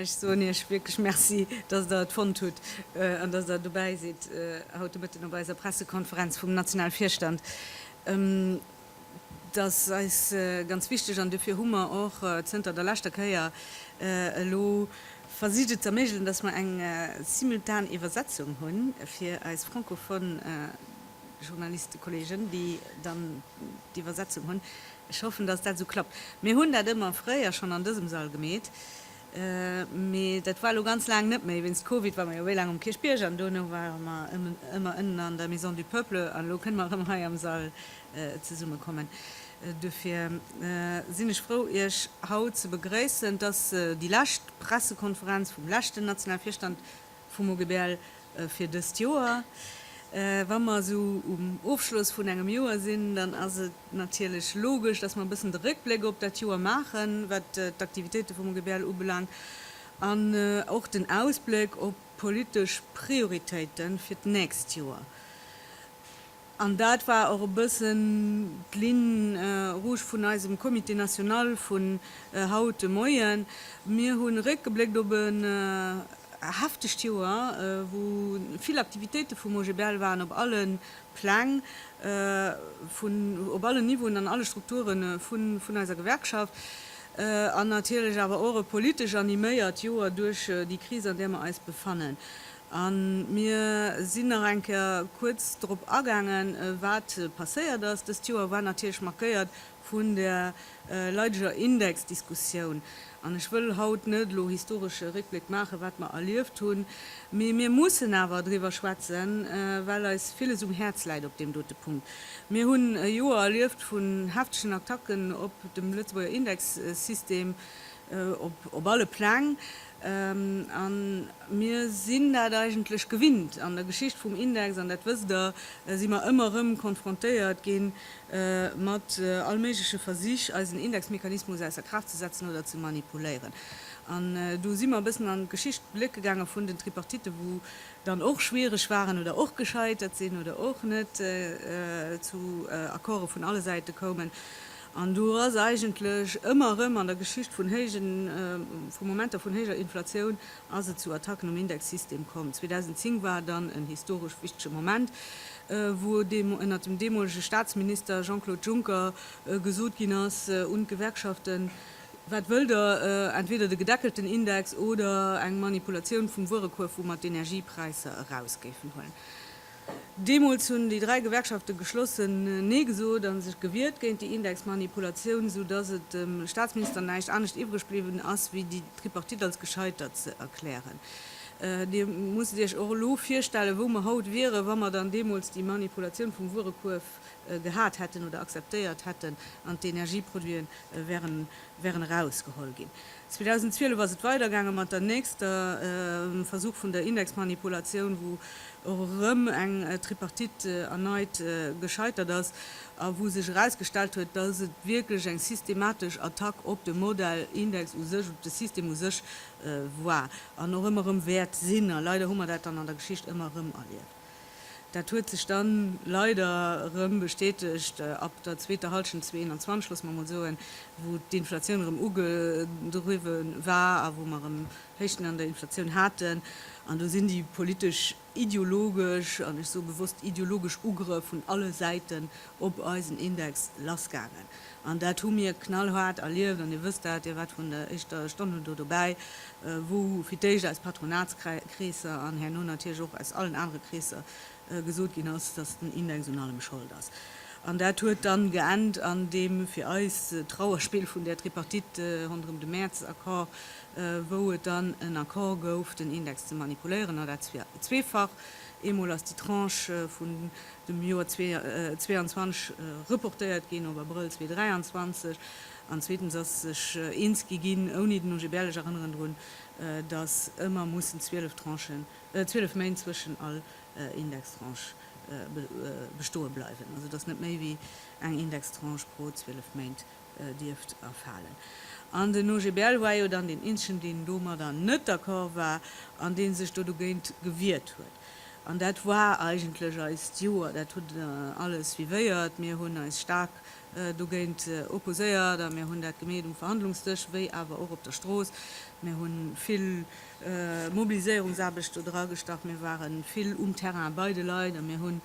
Ech soen Iech wierklech Merci, dass Der et fonnt hutt an dass Der dobäi sidd haut de Mëtten op eiser Pressekonferenz vum Nationalvirstand. Dat ass eis ganz wichteg an dofir hu mer och zënter der leschter Kéier elo versicht et z'erméigelen, dass mer eng simultan Iwwersetzung hu fir eis francophone Journalistekollegen, déi dann d'Iwwersetzung hunn. Ech hoffen, dass dat esou klappt. Mir hunn dat ëmmer fréier schonn an dësem Sall gemeet, mee dat war elo ganz laang net méi. Wéinst Covid ware mer jo wéi laang um Kierchbierg an duerno ware mer ëmmer ënnen an der Maison du Peuple an elo kënne mer erëm hei am Sall zesummekommen. Dofir sinn ech frou, Iech haut ze begréissen, dass déi lescht Pressekonferenz vum leschten Nationalvirstand, Vum OGBL fir dëst Joer. Wa mer esou um Ofschloss vun engem Joer sinn, dann ass et natierlech logesch, dass mer e bëssen de Réckbléck op dat Joer maachen, wat d'Aktivitéite vum OGBL ubelaangt, an och den Ausbléck op d'politesch Prioritéite fir d'nächst Joer. An dat war och e bëssen d'Ligne rouge vun eisem Comité national vun haut de Moien. Mir hu réckgebléckt op e heftegt Joer, wou vill Aktivitéite vum OGBL waren, op alle Pläng, vun op allen Niveauen, an alle Strukture vun eiser Gewerkschaft, an natierlech awer och e politesch animéiert Joer duerch déi Kris, an där mer eis befannen. A mir sinn nach eng Kéier kuerz drop agaangen, wat passéiert ass. Dëst Joer war natierlech markéiert vun der leideger Indexdiskussioun. An ech wëll haut net elo historesche Réckbléck maachen, wat mer erlieft hunn, mee mir mussen awer driwwer schwätzen, well eis villes um Häerz läit op deem dote Punkt. Mir hunn e Joer erlieft vun heftegen Attacken op dem Lëtzebuerger Indexsystem op alle Pläng. An mir sinn dat eigentlech gewinnt. An der Geschicht vum Index, an dat wësst Der, si mer ëmmer erëm konfrontéiert gi mat allméigleche Versich, eisen Indexmechanismus ausser Kraaft ze setzen oder ze manipuléieren. An do si mer e bëssen an d'Geschicht blécke gaange vun den Tripartitten, wou dann och schwiereg waren oder och gescheitert sinn oder och net zu Accorde vun alle Säite koumen. An do ass eigentlech ëmmer erëm an der Geschicht vun héijen, vu Momenter vun héijer Inflatioun ass et zu Attacken um Indexsystem komm. 2010 war dann en historesch wichtege Moment, wou ënnert dem deemolege Staatsminister Jean-Claude Juncker gesot ginn ass un d'Gewerkschaften, Wat wëllt Der, entweder de gedeckelten Index oder eng Manipulatioun vum Wuerekuerf, wou mer d'Energiepräisser eraus géifen huelen? Deemools hunn déi dräi Gewerkschafte geschlossen Nee gesot a sech gewiert géint déi Indexmanipulatioun, sou datt et dem Staatsminister näischt anescht iwwreg bliwwen ass, wéi déi Tripartite als gescheitert ze erklären. Dir musst Iech och elo virstellen, wou mer haut wieren, wa mer dann deemools déi Manipulatioun vum Wuerekuerf gehat hätten oder akzeptéiert hätten an d'Energieproduite wären wären erausgeholl ginn. 2012 ass et weidergaange mat der nächster Versuch vun der Indexmanipulatioun, wou och erëm eng Tripartite erneit gescheitert ass a wou sech erausgestallt huet, datt et wierklech eng systematesch Attack op de Modell Index u sech, op de System u sech war an och ëmmer erëm wäert sinn. A leider hu mer dat dann an der Geschicht ëmmer erëm erlieft. Dat huet sech dann leider erëm bestätegt ab der zweeter Halschent 2021, loosse mer mol soen, wou d'Inflatioun erëm ugedriwwen war a wou mer erëm Héichten an der Inflatioun haten. An do sinn déi politesch-ideologesch, an ech soe bewosst ideologesch, Ugrëff vun alle Säiten op eisen Index lassgaangen. An dat hu mir knallhaart erlieft. An Dir wësst dat, Dir waart vun der éischter Stonn un do dobäi, wou fir d'éischt aus Patronatskreesser an herno natierlech och aus allen anere Kreesser gesot ginn ass, dass den Index un allem Schold ass. An dat huet dann geennt an deem fir eis Trauerspill vun där Tripartite ronderëm de Mäerz-Accord, wou et dann en Accord gouf, den Index ze manipuléieren, a dat zweefach. Eemol ass déi Tranche vun dem Joer 2022 reportéiert ginn op Abrëll 2023, an zweetens ass sech eens gi ginn, ouni den OGBL, ech erënneren drun, datt ëmmer mussen 12 Tranchen, 12 Méint zwëschen all Indextranche bestoe bleiwen, also datt net méi wéi eng Indextranche pro 12 Méint dierft erfalen. An den OGBL war jo dann deen eenzegen, deen domadder net d'accord war an dee sech do dogéint gewiert huet. An dat war eigentlech eist Joer. Dat huet alles suivéiert. Mir hunn eis staark dogéint opposéiert a mir hunn dat gemeet um Verhandlungsdësch wéi awer och op der Strooss. Mir hu vill Mobiliséierungsaarbecht do dragestach. Mir ware vill um Terrain bei de Leit a mir hu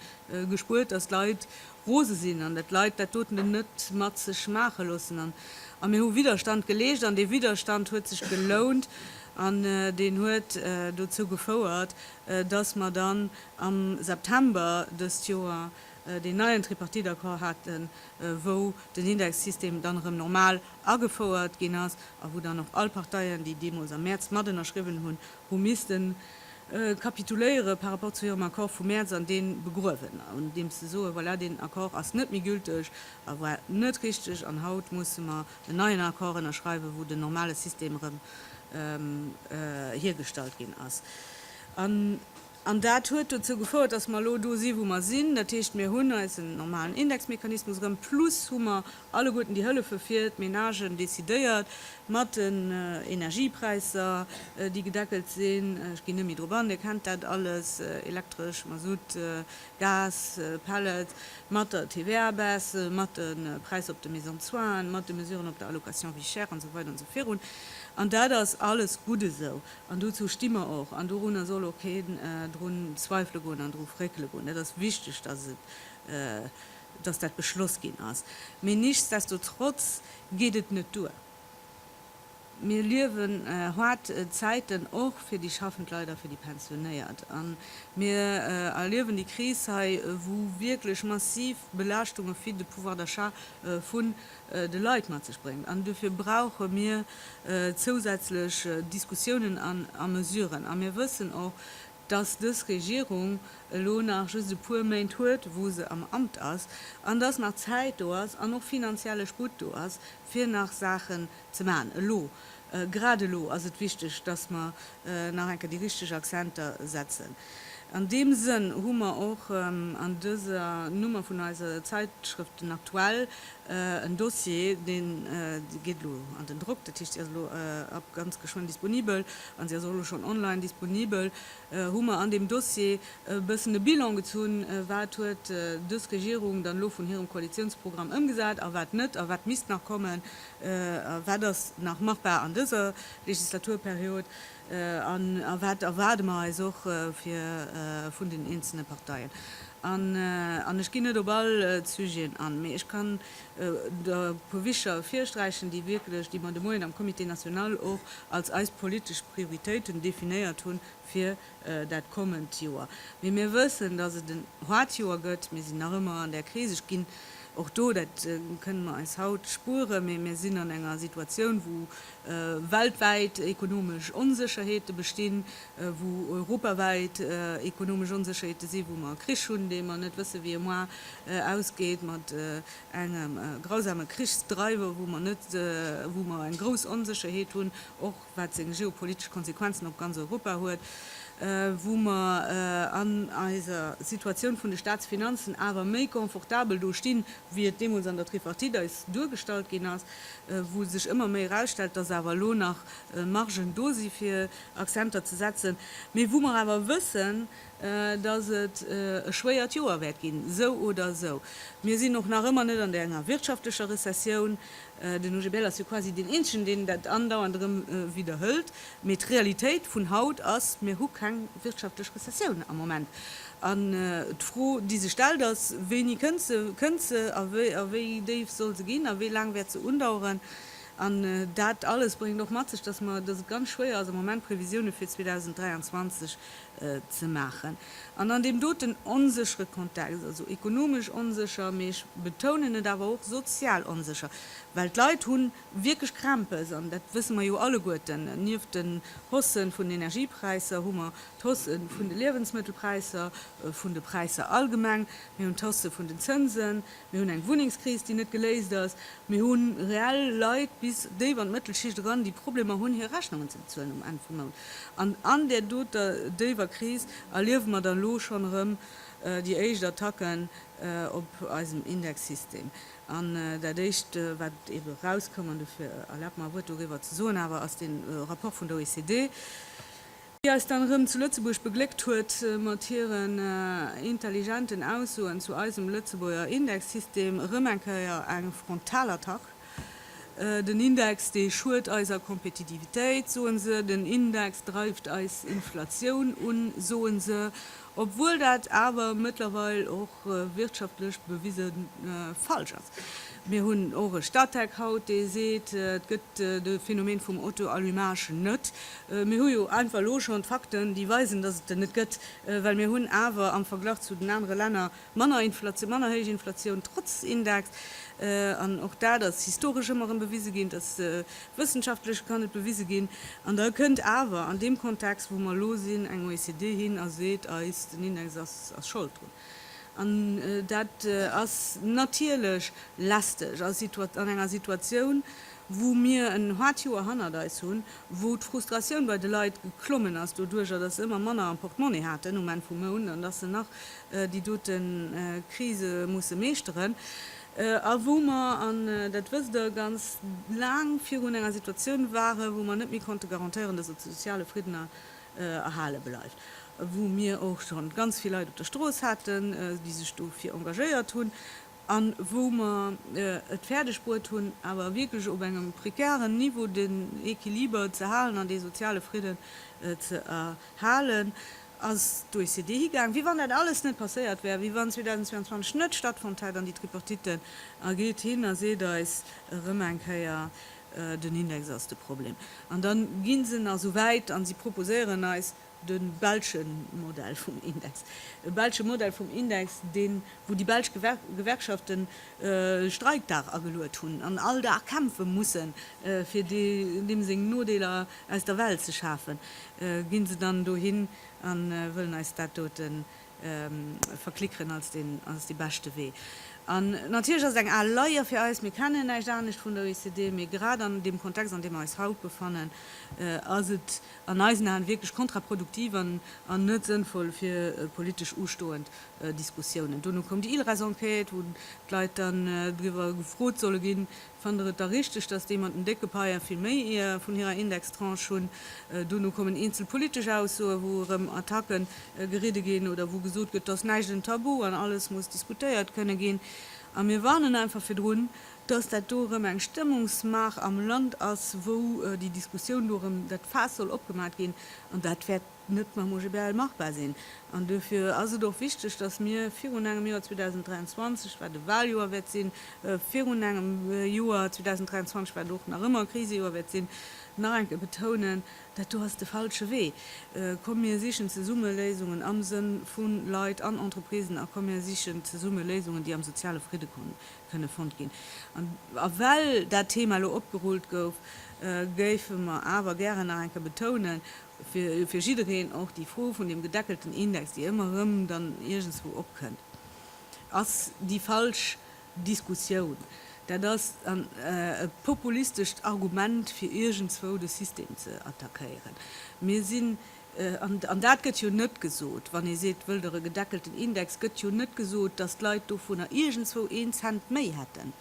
gespuert, datt d'Leit rose sinn an dat d'Leit dat doten net mat sech maache loossen an a mir hu Widderstand geleescht an dee Widderstand huet sech gelount an deen huet dozou gefouert, dass mer dann am September dëst Joer deen neien Tripartite-Accord haten, wou den Indexsystem dann erëm normal agefouert ginn ass a wou dann och all Parteien, déi deemools am Mäerz mat ënnerschriwwen hunn, hu missten kapituléiere par rapport zu hirem Accord vum Mäerz an dee begruewen, andeems se soen, voilà, deen Accord ass net méi gülteg a war net richteg an haut musse mer en neien Accord ënnerschreiwen, wou den normale System erëm hiergestallt ginn ass. An dat huet dozou gefouert, dass mer elo do si wou mer sinn. Dat heescht, mir hunn eisen normalen Indexmechanismus erëm, plus hu mer alleguerten déi Hëllefe fir d'Menagen decidéiert, mat den Energiepräisser, déi gedeckelt sinn. Ech ginn net méi drop an, Dir kennt dat alles, Elektresch, Masutt, Gas, Pellets, mat der TVA-Baisse, mat de Präisser op de Maisons de soins, mat de Mesuren op der Allocation vie chère, an esou weider an esou virun. An dat ass alles gutt esou. An dozou sti mer och. An dorunner soll och keen drun zweifele goen an dru fréckele goen. Dat ass wichteg, dass dat beschloss ginn ass. Mee nichtsdestotrotz geet et net duer. Mir liewen haart Zäiten, och fir déi schaffend Leit a fir déi Pensionéiert. A mir erliewen déi Kris hei, wou wierklech massiv Belaaschtunge fir de Pouvoir d'achat vu de Leit mat sech bréngt. An duerfir brauche mir zousätzlech Diskussiounen a Mesuren. A mir wëssen och, dass dës Regierung elo nach just e puer Méint huet, wou se am Amt ass, an dass nach Zäit do ass an och finanzielle Sputt do ass, fir nach Saachen ze maachen. Elo Grad elo ass et wichteg, dass mer nach eng Kéier déi richteg Accenter setzen. An deem Sënn hu mer och an dëser Nummer vun eiser Zeitschrëft Den Aktuell en Dossier, dee geet elo an den Drock, dat heescht, déi ass elo ab ganz geschwënn disponibel an se ass och elo schonn online disponibel, hu mer an deem Dossier e bëssen e Bilan gezunn, wat huet dës Regierung dann elo vun hirem Koalitiounsprogramm ëmgesat a wat net a wat misst nach kommen. A wat ass nach machbar an dëser Legislaturperiod? A wat erwaarde mer eis och vun den eenzelne Parteien? An ech ginn net op all d'Sujeten an, mee ech kann der e puer Bicher virsträichen, déi wierklech, déi mer de Moien am Comité national och als eis politesch Prioritéiten definéiert hunn, fir dat kommend Joer. Mee mir wëssen, datt et en haart Joer gëtt. Mir sinn nach ëmmer an där Kris. Ech ginn och do, dat kënnen mer eis haut spueren, mee mir sinn an enger Situatioun, wou weltwäit ekonomesch Onsécherheete bestinn, wou europawäit ekonomesch Onsécherheete sinn, wou mer e Krich hunn, dee mer net wëssen, wéi e moar ausgeet, mat engem grausame Krichsdreiwer, wou mer net, wou mer eng grouss Onsécherheet hunn, och wat seng geopolitesch Konsequenzen op ganz Europa huet, wou mer an eiser Situatioun vun de Staatsfinanzen awer méi confortabel do stinn, wéi et deemools an der Tripartite eis duergestallt ginn ass, wou sech ëmmer méi erausstellt, dass awer elo nach Margen do si fir Akzenter ze setzen, mee wou mer awer wëssen, dass et e schwéiert Joer wäert ginn, esou oder esou. Mir sinn och nach ëmmer net an enger wirtschaftlecher Rezessioun. Den OGBL ass jo quasi deen eenzegen, deen dat andauernd erëm widderhëlt. Mee d'Realitéit vun haut ass, Mir hu keng wirtschaftlech Rezessioun am Moment. An d'Fro, déi sech stellt, ass, Wéini kënnt se? Kënnt se a wéi? A wéi déif soll se ginn? A wéi laang wäert se undaueren? An dat alles bréngt och mat sech, dass et ganz schwéier ass am Moment Previsioune fir 2023 ze maachen. An an deem doten onséchere Kontext, also ekonomesch onsécher, mee ech betounen et awer och sozial onsécher, well d'Leit hu wierklech Krämpes, an dat wësse mer jo alleguerten, nieft den Haussë vun den Energiepräisser hu mer d'Hausse vun de Liewensmëttelpräisser, vun de Präisser allgemeng, mir hunn d'Hausse vun den Zënsen. Mir hunn eng Wunnengskris, déi net geléist ass. Mir hu reell Leit bis déif an d'Mëttelschicht eran, déi Problemer hunn, hir Rechnungen ze bezuelen um Enn vum Mount. An an där doter déiwer Kris erliewe mer da lo schonn erëm déi éischt Attacken op eisem Indexsystem. An dat Éischt, wat ebe erauskoum, an dofir erlaabt mer e Wuert doriwwer ze soen awer, ass dee Rapport vun der OECD, déi eis dann erëm zu Lëtzebuerg begléckt huet mat hiren intelligenten Aussoen zu eisem Lëtzebuerger Indexsystem, erëm eng Kéier eng Frontalattack. Den Index, dee schued eiser Kompetitivitéit, soen se, den Index dreift eis Inflatioun un, soen se, obwuel dat awer mëttlerweil och wirtschaftlech bewise falsch ass. Mir hunn och e Statec haut, dee seet, et gëtt de Phänomen vum Auto-allumage net. Mir hu jo einfach elo schonn d'Fakten, déi weisen, datt et en net gëtt, well mir hunn awer am Verglach zu den anere Länner, Manner Inflatioun, manner héich Inflatioun trotz Index. An och dat ass historesch ëmmer erëm bewise ginn, et ass wëssenschaftlech kann et bewise ginn. An da kënnt awer an deem Kontext, wou mer elo sinn, eng OECD hin a seet eis, den Index ass Schold drun. An dat ass natierlech lästeg an enger Situatioun, wou mir en haart Joer hannert eis hunn, wou d'Frustratioun bei de Leit geklommen ass doduerjer, datt se ëmmer manner am Portemonnaie haten um Enn vum Mount an datt se nach déi dote Krise musse meeschteren a wou mer, an dat wësst Der, ganz laang virun enger Situatioun waren, wou mer net méi konnte garantéieren, dass de soziale Fridden erhale bleift, wou mir och scho ganz vill Leit op der Strooss haten, déi sech dofir engagéiert hunn, a wou mer et fäerdeg bruet hunn, awer wierklech op engem prekären Niveau den Equiliber ze halen an dee soziale Fridden ze erhalen. ass d'OECD higaang, wéi wann dat alles net passéiert wär, wéi wann 2022 net stattfonnt hätt, an déi Tripartiten, a geet hin a seet eis erëm eng Kéier, den Index ass de Problem. An da gi se nach esou wäit a si proposéieren eis de belsche Modell vum Index, e belsche Modell vum Index, deen, wou déi belsch Gewerkschaften e Streikdag ageluet hunn an all Dag kämpfe mussen, fir deem seng Nodeeler aus der Welt ze schafen, ginn se dann dohin an wëllen eis dat doten verklickeren als den als de beschte Wee. An natierlech ass et eng al Leier fir eis, mir kennen näischt anescht vun der OECD, mee grad an deem Kontext an deem mer eis haut befannen, ass et an eisen Aen wierklech kontraproduktiv an an net sënnvoll fir politesch ustoend Diskussiounen. Dono koum déi ILRES-Enquête, wou d'Leit dann driwwer gefrot solle ginn, Fannt Der et da richteg, dass déi mat den décke Paien vill méi ee vun hirer Indextranche hunn? Duerno kommen eenzel politesch Aussoe wou erëm Attacke geridde ginn oder wou gesot gëtt, et ass näischt en Tabu an alles muss diskutéiert kënne ginn. A mir warnen einfach virdrun, dass dat do erëm eng Stëmmungsmaach am Land ass, wou déi Diskussioun do erëm dat Faass soll opgemaat ginn an dat wäert, net mam OGBL machbar sinn. An duerfir ass et och wichteg, datt mir virun engem Joer 2023, wat e Wahljoer wäert sinn, virun engem Joer 2023, wat och nach ëmmer e Krisejoer wäert sinn, nach eng Kéier betounen, Dat do ass de falsche Wee. Komm mir sichen zesumme Léisungen am Sënn vu Leit an Entreprisen a komm mir sichen zesumme Léisungen, déi am soziale Fridde kënne fonnt ginn. A well dat Thema elo opgerullt gouf, géife mer awer gären nach eng Kéier betounen, fir jiddereen och déi Fro vun deem gedeckelten Index, déi ëmmer erëm dann iergendswou opkënnt, ass déi falsch Diskussioun. Dat ass e populistescht Argument, fir iergendswou de System ze attackéieren. Mir sinn, an dat gëtt jo net gesot, wann ee seet, wëllt Der e gedeckelten Index, gëtt jo net gesot, datt d'Leit dovunner iergendswou een Cent méi hätten.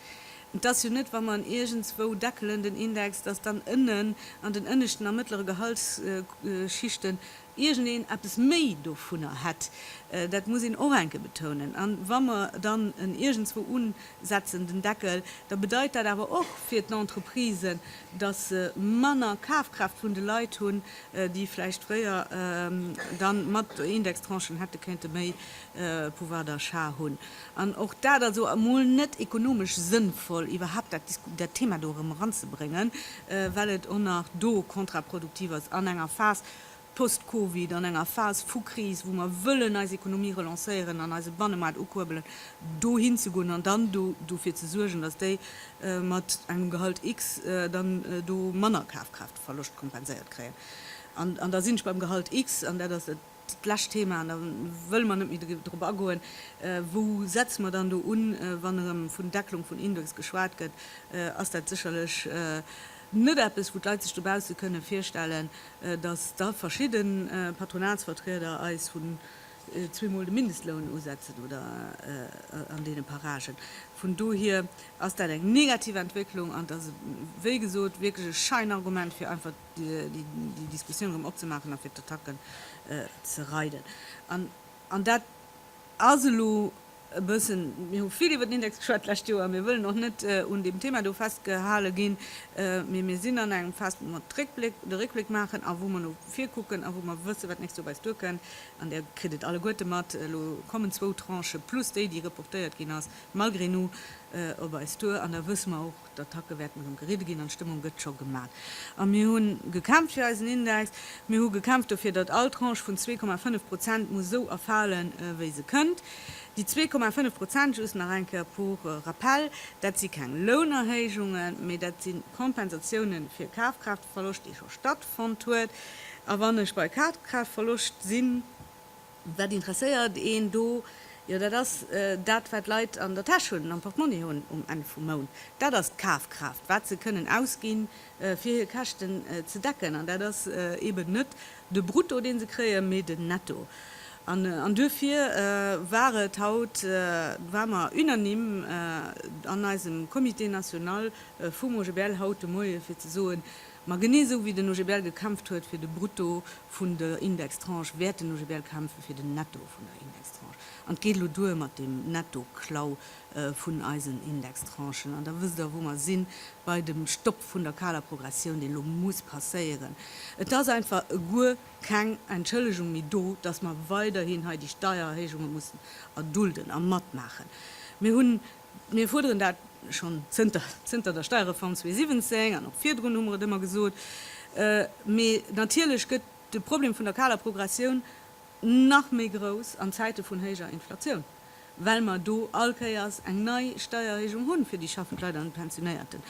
Et ass jo net, wa mer en iergendswou deckelen, den Index, datt dann ënnen an den ënneschten a mëttlere Gehaltsschichten iergendeen eppes méi dovunner hätt. Dat muss een och enke betounen. A wa mer dann en iergendswou unsetzen, den Deckel, da bedeit dat awer och fir d'Entreprisen, datt se manner Kafkraaft vun de Leit hunn, déi vläicht fréier dann mat Indextranchen hätte kéinte méi Pouvoir d'achat hunn. An och dat ass o emol net ekonomesch sënnvoll, iwwerhaupt dat Disku dat Thema do erëm eranzebréngen, well et o nach do kontraproduktiv ass an enger Phas post-Covid, an enger Phas vu Kris, wou mer wëllen eis Ekonomie relancéieren an eise Bannemaart ukuerbelen, do hinzegoen an dann do dofir ze suergen, dass déi mat engem Gehalt X dann do manner Kafkraaftverloscht kompenséiert kréien. An da sinn ech beim Gehalt X, an dat ass dat, D'lescht Thema, an da wëlle mer net méi drop agoen, Wou setze mer dann do un, wann erëm vun Decklung vun Index geschwat gëtt? Ass dat sécherlech net eppes, wou d'Leit sech dobausse kënne virstellen, datt da verschidde Patronatsvertrieder eis vun zweemol de Mindestloun usetzen oder an deene Paragen? Vun dohier ass dat eng negativ Entwécklung an et ass, wéi gesot, wierklech e Scheinargument, fir einfach déi Diskussioun erëm opzemaachen a fir d'Attacken ze reiden. An dat ass elo e bëssen, mir hu vill iwwer den Index geschwat d'lescht Joer, mir wëllen och net un deem Thema do festgehale ginn, mee mir sinn an engem Phase, wou mer de Réckbléck maachen a wou mer no vir kucken a wou mer wëssen, wat d'nächst Joer bei eis duerkënnt. An Dir kritt et alleguerte mat, elo kommen zwou Tranchë plus déi, déi reportéiert ginn ass, malgré nous op eis duer. An da wësse mer och, D'Attacke wäerten erëm geridde ginn an d'Stëmmung gëtt scho gemat. A mir hu gekämpft fir eisen Index. Mir hu gekämpft dofir, datt all Tranche vun 2,5 Prozent muss esou erfalen, wéi se kënnt. Déi 2,5 Prozent, just nach eng Kéier pour rappel, dat si keng Lounerhéijungen, mee dat si Kompensatiounen fir Kafkraaftverloscht, dee scho stattfonnt huet. A wann ech bei Kafkraaftverloscht sinn, Wat interesséiert een do? Jo, dat ass dat, wat d'Leit an der Täsch hunn, am Portmonni hunn um Enn vum Mount. Dat ass d'Kafkraaft, wat se kënnen ausginn, fir hir Käschten ze decken. An dat ass eeben net de Brutto, dee se kréien, mee den Netto. An duerfir war et haut, ware mer unanime an eisem Comité national vum OGBL haut de Moie fir ze soen, Ma genee esou wéi den OGBL gekämpft huet fir de Brutto vun der Indextranche, wäert den OGBL kämpfe fir den Netto vun der Indextranche. An et geet elo duer mat deem Nettoklau vun eisen Indextranchen. An da wësst Der, wou mer sinn, bei dem Stopp vun der kaler Progressioun, deen elo muss passéieren. Et ass einfach guer keng Entschëllegung méi do, dass mer weiderhin hei déi Steiererhéijunge mussen erdulden a matmaachen. Mir hunn Mir fuerderen dat schonn zënter zënter der Steierreform 2017, an och virdrun hu mer et ëmmer gesot. Mee natierlech gëtt de Problem vun der kaler Progressioun nach méi grouss an Zäite vun héijer Inflatioun, well mer do all Kéiers eng nei Steiererhéijung hunn fir déi schaffend Leit an d'Pensionéierten.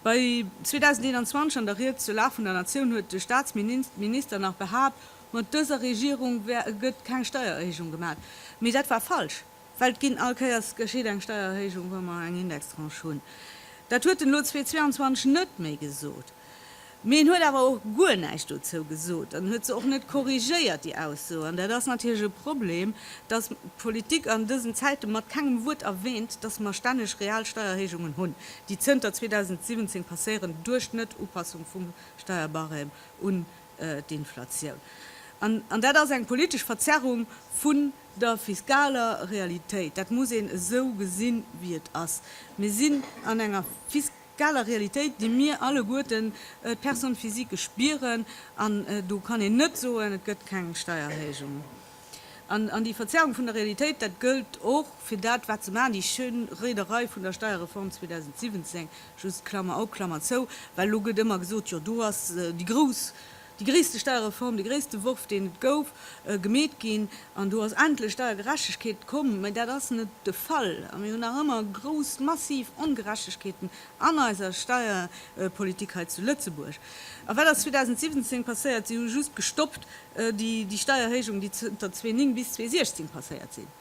Bei 2021 an der Ried zur Lag vun der Natioun huet de Staatsminister nach behaapt, mat dëser Regierung gëtt keng Steiererhéijung gemat. Mee dat war falsch. Well et ginn, all Kéiers geschitt eng Steiererhéijung, wa mer eng Indextranche hunn. Dat huet en elo 2022 net méi gesot. Mee en huet awer och guer näischt dozou gesot an huet se och net korrigéiert, déi Ausso. An dat ass natierlech e Problem, dass d'Politik an dësen Zäite mat kengem Wuert erwähnt, dass mer stänneg real Steiererhéijungen hunn, déi zënter 2017 passéieren duerch d'Net-Upassung vum Steierbarème un d'Inflatioun. An dat ass eng politesch Verzerrung vu der fiskaler Realitéit, dat muss een esou gesinn, wéi et ass, mir sinn an enger fiskaler Realitéit, déi mir alleguerten, d'Personnes physiques, spieren, an do kann een net soen, et gëtt keng Steiererhéijung. An déi Verzerrung vun der Realitéit, dat gëllt och fir dat, wat se maachen, déi schéin Rederei vun der Steierreform 2017, just Klammer op, Klammer zou, well elo gëtt ëmmer gesot, jo do ass déi grouss, Déi gréisste Steierreform, de gréisste Worf, deen et gouf, gemeet ginn, an do ass endlech Steiergerechtegkeet komm. Mä dat ass net de Fall. A mir hunn nach ëmmer grouss, massiv Ongerechtegkeeten an eiser Steierpolitik hei zu Lëtzebuerg. A wat ass 2017 passéiert? Si hu just gestoppt déi Steierhéijungen, déi zënter 2009 bis 2016 passéiert sinn.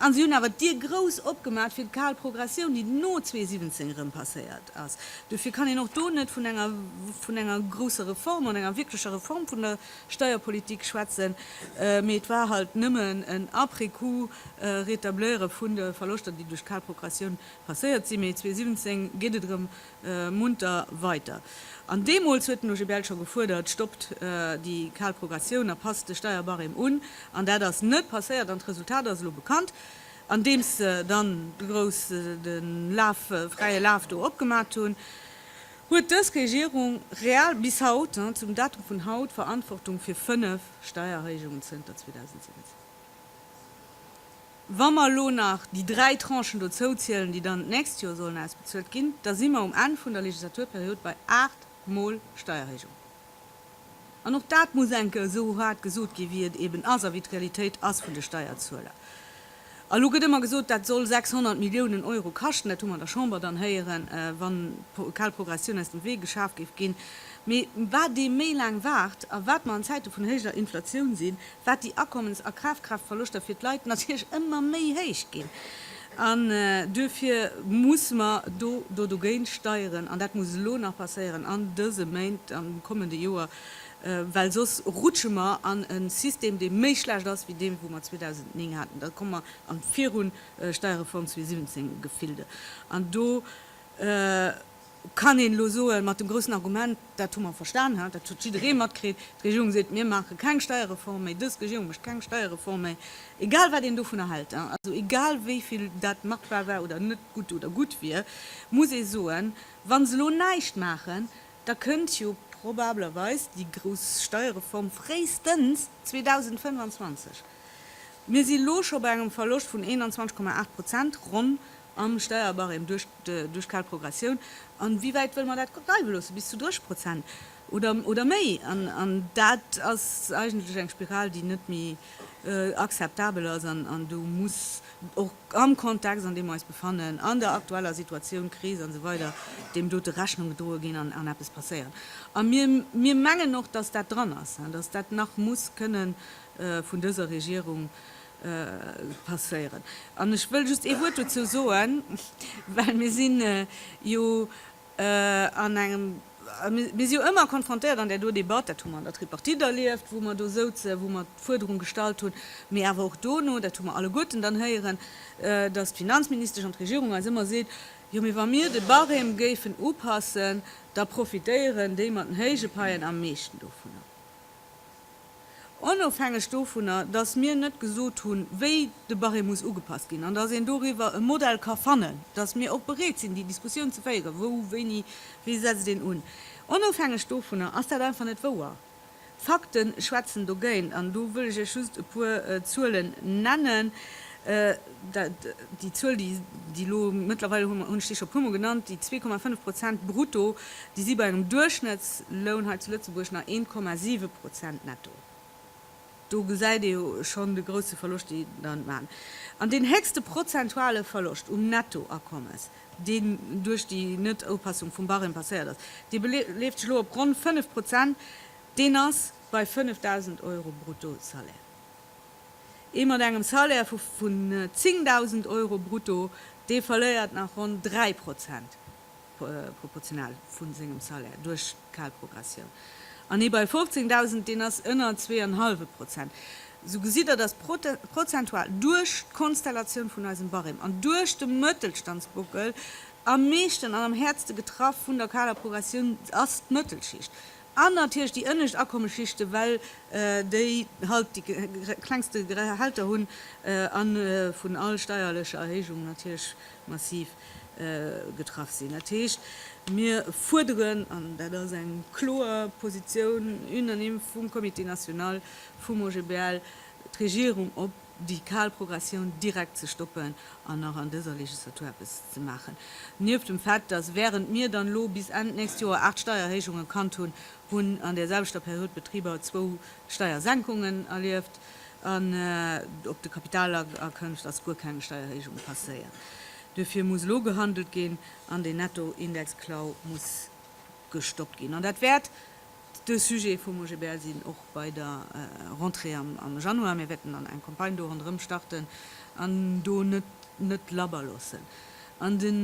An si hunn awer d'Dier grouss opgemaat fir d'kaal Progressioun, déi no 2017 erëm passéiert ass. Dofir kann een och do net vun enger, vun enger grousser Reform oder enger wierklecher Reform vun der Steierpolitik schwätzen, mee et war halt nëmmen en après-coup Rétableure vun de Verloschter, déi duerch d'kaal Progressioun passéiert sinn. Mee 2017 geet et erëm munter weiter. An deemools huet den OGBL scho gefuerdert, stoppt déi kal Progressioun a passt de Steierbarème un. An dat ass net passéiert an d'Resultat ass elo bekannt, andeems se dann de grouss de Laf, fräie Laf do opgemat hunn, huet dës Regierung real bis haut, zum Datum vun haut, d'Verantwortung fir fënnef Steiererhéijungen zënter 2017. Wa mer elo nach déi dräi Tranchen dozouzielen, déi dann d'nächst Joer sollen ausbezuelt ginn, da si mer um Enn vun der Legislaturperiod bei aacht Mol Steierhéijung. An och dat muss enke esou hart gesot ginn, wéi et eeben ass a wéi d'Realitéit ass vun de Steierzueler. A elo gëtt ëmmer gesot, dat soll 600 Milliounen Euro kaschten. Dat hu mer an der Chamber dann héieren, wann d'kal Progressioun aus dem Wee geschaf géif ginn. Mee wat ee méi laang waart a wat mer an Zäite vun héijer Inflatioun sinn, wat déi Akommens a Kafkraaftverloschter fir d'Leit natierlech ëmmer méi héich ginn. An duerfir muss mer do do dogéint steieren, an dat muss elo nach passéieren, an dëse Méint, am kommende Joer, well soss rutsche mer an e System, dee méi schlecht ass wéi dee wou mer 2009 haten. Da komme mer an d'Virun Steierreform 2017 Gefilde. An do. Kann een elo soen, mat dem groussen Argument, dat hu mer verstan, ha, dat huet jidderee matkritt, d'Regierung seet, mir maache keng Steierreform méi, dës Regierung mécht keng Steierreform méi, egal wat een dovunner hält, ha, also egal wéi vill dat machbar war oder net gutt oder gutt wier, muss ee soen, wa se elo näischt maachen, da kënnt jo probablerweis déi grouss Steierreform fréistens 2025. Mir si elo scho bei engem Verloscht vun 21,8 Prozent ronn am Steierbarème duerch d'kal Progressioun, a wéi wäit wëlle mer dat dreiwe loossen, bis zu 30 Prozent oder méi? An dat ass eigentlech eng Spiral, déi net méi akzeptabel ass, an do muss och am Kontext, an deem mer eis befannen, an der aktueller Situatioun, Kris a sou weider, deem dote Rechnung gedroe ginn an eppes passéieren. A mir mengen och, dass dat dran ass, dass dat nach muss kënne vun dëser Regierung passéieren. An ech wëll just ee Wuert dozou soen, well mir si jo an engem, mir si jo ëmmer konfrontéiert an där do Debatt, dat hu mer an der Tripartite erlieft, wou mer do souzen, wou mer d'Fuerderung gestallt hunn, mee awer och dono, dat hu mer alleguerten dann héieren, dass d'Finanzministesch an d'Regierung eis ëmmer seet, Jo, mee wa mir de Barème géifen upassen, da profitéieren déi mat den héije Paien am meeschten dovunner. Onofhängeg dovunner, dass mir net gesot hunn, wéi de Barème muss ugepasst ginn an dass een doriwwer e Modell ka fannen, dass mir och bereet sinn, déi Diskussioun ze féieren, wou, wéini, wéi setzt een un, onofhängeg dovunner ass dat einfach net wouer. D'Fakte schwätzen dogéint. An do wëll ech Iech just e puer Zuelen nennen. Déi Zuel, déi elo mëttlerweil, hunn ech déi scho e puermol genannt, déi zwee Komma fënnef Prozent brutto, déi si bei engem Duerchschnëttsloun hei zu Lëtzebuerg nach eent Komma siwe Prozent netto. Do gesäit ee jo schonn de grousse Verloscht, dee der maachen. An deen héchste prozentuale Verloscht um Nettoakommes, deen duerch déi Net-Upassung vum Barème passéiert ass, dee beleeft sech elo op ronn fënnef Prozent, deen ass bei 5.000 Euro Bruttosalaire. Ee mat engem Salaire vu vun 10.000 Euro brutto, dee verléiert nach ronn 3 Prozent proportional vu sengem Salaire duerch kal Progressioun. An ee bei 15.000, deen ass ënner zwee an hallwe Prozent. Sou gesitt Der, datt prozentual duerch d'Konstellatioun vun eisem Barème an duerch de Mëttelstandsbockel am meeschten an am häertste getraff vun der kaler Progressioun ass d'Mëttelschicht. An natierlech déi ënnescht Akommesschichte, well déi halt déi klengste Gehälter hunn a vun all steierlecher Erhéijung natierlech massiv getraff sinn. Dat heescht, mir fuerderen, an dat ass eng kloer Positioun, unanime vum Comité national vum OGBL, d'Regierung op, déi kal Progressioun direkt ze stoppen an nach an dëser Legislatur eppes ze maachen, nieft dem Fait, dass während mir dann elo bis Enn d'nächst Joer aacht Steiererhéijungen kannt hunn, hunn an där selwechter Period d'Betriber zwou Steiersenkungen erlieft an op de Kapitalerkënft ass guer keng Steiererhéijung passéiert. Duerfir muss elo gehandelt ginn an deen Nettoindexklau muss gestoppt ginn an dat wäert, De Sujet vum OGBL sinn och bei der Rentrée am Januar. Mir wäerten dann eng Campagne do ronderëm starten an do net net labber loossen. An den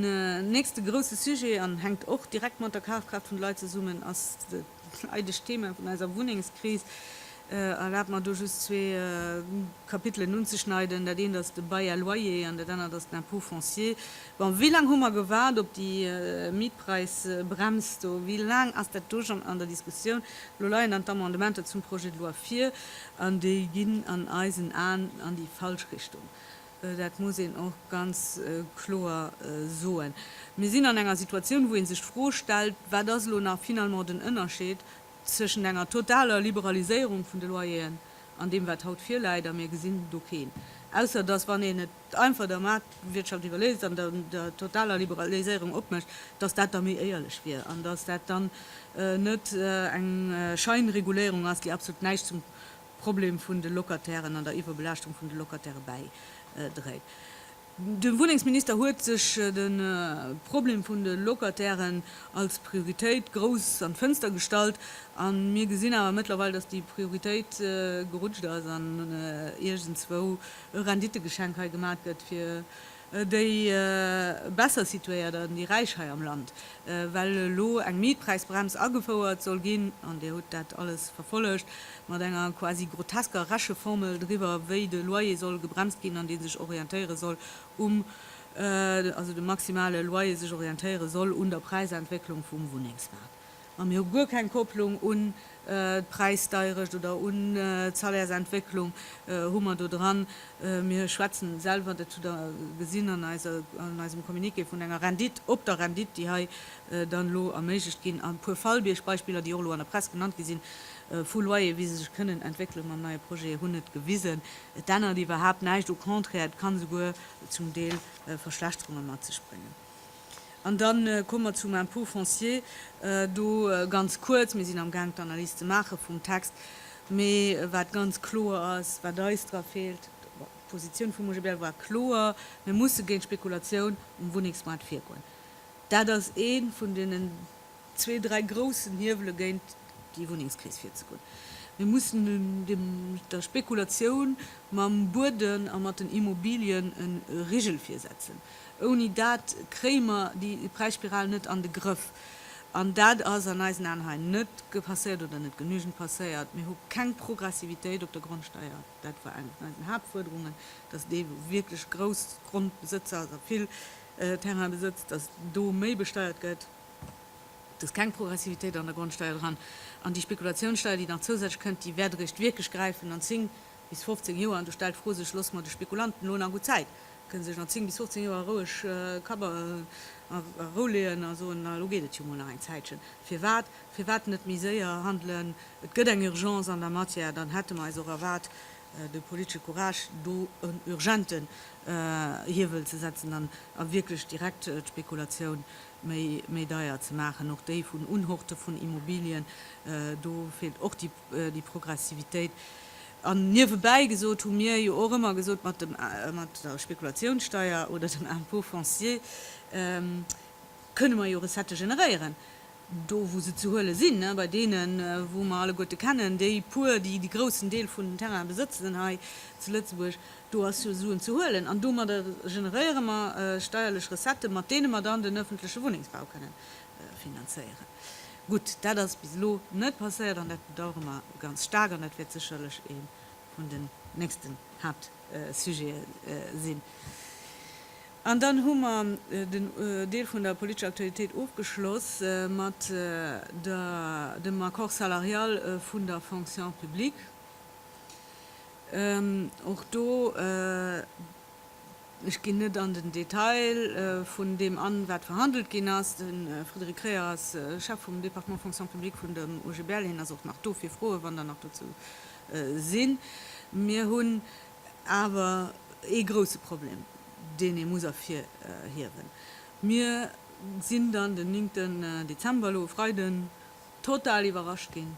nächste grousse Sujet, an hänkt och direkt mat der Kafkraaft vun de Leit zesummen, ass dat leidegt Thema vun eiser Wunnengskris. Erlaabt mer do just zwee Kapitelen unzeschneiden. Dat eent ass de Bail à loyer an dat anert ass den Impôt foncier. Bon, wéi laang hu mer gewaart op déi Mietpreisbrems do? Wéi laang ass dat do schonn an der Diskussioun? Elo leien dann d'Amendementer zum Projet de loi vir an déi ginn an eisen Aen an déi falsch Richtung. Dat muss een och ganz kloer soen. Mir sinn an enger Situatioun, wou ee sech d'Fro stellt, Wat ass elo nach finalement den Ënnerscheed tëschent enger totaler Liberaliséierung vun de Loyeren an deem, wat haut virläit? A mir gesinn do keen, ausser dass, wann een et, einfach der Maartwirtschaft iwwerléisst an der totaler Liberaliséierung opmécht, datt dat da méi éierlech wier an datt dat dann net eng Scheinreguléierung ass, déi absolut näischt zum Problem vun de Locatairen an der Iwwerbelaaschtung vun de Locataire bäidréit. De Wunnengsminister huet sech de Problem vun de Locatairen als Prioritéit grouss an d'Fënster gestallt a mir gesinn awer mëttlerweil, datt déi Prioritéit gerutscht ass an iergendswou e Renditegeschenk hei gemat gëtt fir déi besser situéiert an déi Räich hei am Land, well elo eng Mietpräisbrems agefouert soll ginn, an Dir hutt dat alles verfollegt, mat enger quasi grotesker Recheformel driwwer, wéi de Loyer soll gebremst ginn an dee sech orientéiere soll um, also de maximale Loyer sech orientéiere soll un der Präisentwécklung vum Wunnengsmaart. A mir hu guer keng Kopplung un d'Präisdeirecht oder un d'Salaires-Entwécklung hu mer do dran. Mir schwätzen selwer, dat hutt Der gesinn an eisem Communiqué, vun enger Rendite op der Rendite, déi hei dann elo erméiglecht ginn. A puer Fallbiergbeispiller, déi och elo an der Press genannt gi sinn, vu Loyere, wéi se sech kënnen entwéckele mam neie Projet, hunn et gewisen. Et ännert iwwerhaapt näischt, au contraire, et ka souguer zum Deel Verschlechterunge mat sech bréngen. An da komme mer zum Impôt foncier. Do ganz kuerz, Mir sinn amgaang d'Analys ze maache vum Text, mee wat ganz kloer ass, wat eis dra feelt, bon, d'Positioun vum OGBL war kloer, Mir musse géint d'Spekulatioun um Wunnengsmaart virgoen. Dat ass ee vun deenen zwee, dräi groussen Hiewele géint déi Wunnengskris virzegoen. Mir mussen dem, der Spekulatioun mam Bueden a mat den Immobilien e Rigel virsetzen. Ouni dat kréie mer déi Präisspiral net an de Grëff. An dat ass an eisen Aen hei net passéiert oder net genügend passéiert. Mir hu keng Progressivitéit op der Grondsteier. Dat war eng vun eisen Haaptfuerderungen, dass dee wierklech Groussgrondbesëtzer, also vill Terrain besëtzt, dass do méi besteiert gëtt. Et ass keng Progressivitéit an der Grondsteier dran. An déi Spekulatiounssteier, déi nach zousätzlech kënnt, déi wäert eréischt wierklech gräifen an 10 bis 15 Joer. An do stellt d'Fro sech, Loosse mer de Spekulanten elo nach gutt Zäit? Kënne sech nach 10 bis 15 Joer roueg Kapp a Rou leeën a soen, Elo geet et jo mol nach eng Zäitchen. Firwat? Firwat net méi séier handelen? Et gëtt eng Urgence an der Matière. Dann hätte mer eis och erwaart, de politesche Courage, do en urgenten Hiewel ze setzen a wierklech direkt d'Spekulatioun méi deier ze maachen, och déi vun Unhorte vun Immobilien. Do feelt och déi Progressivitéit. An niewebäi gesot hu mir jo och ëmmer gesot, mat der Spekulatiounssteuer oder dem Impôt foncier kënne mer jo Recettë generéieren. do wou se ze huele sinn, bei deene wou mer alleguerte kennen, déi puer, déi de groussen Deel vun den Terraine besëtzen hei zu Lëtzebuerg, do ass jo Suen ze huelen an domadder generéiere mer steierlech Recettë, mat deene mer dann den öffentleche Wunnengsbau kënne finanzéieren. Gutt, dat ass bis elo net passéiert an dat bedauere mer ganz staark an dat wäert sécherlech ee vun den nächsten Haaptthemen sinn. Sujete sinn. An dann hu mer den Deel vun der politescher Aktualitéit ofgeschloss mat der, dem Accord salarial vun der Fonction publique. Och do, ech ginn net an den Detail vun deem an, wat verhandelt ginn ass. De Frédéric Kreher ass Chef vum Département Fonction publique vun dem OGBL. Hien ass och nach do fir Froen, wann Der nach dozou sinn. Mir hunn awer ee grouse Problem, deen ee muss ervirhiewen. Mir sinn dann den néngten Dezember, elo e Freiden, total iwwerrascht ginn,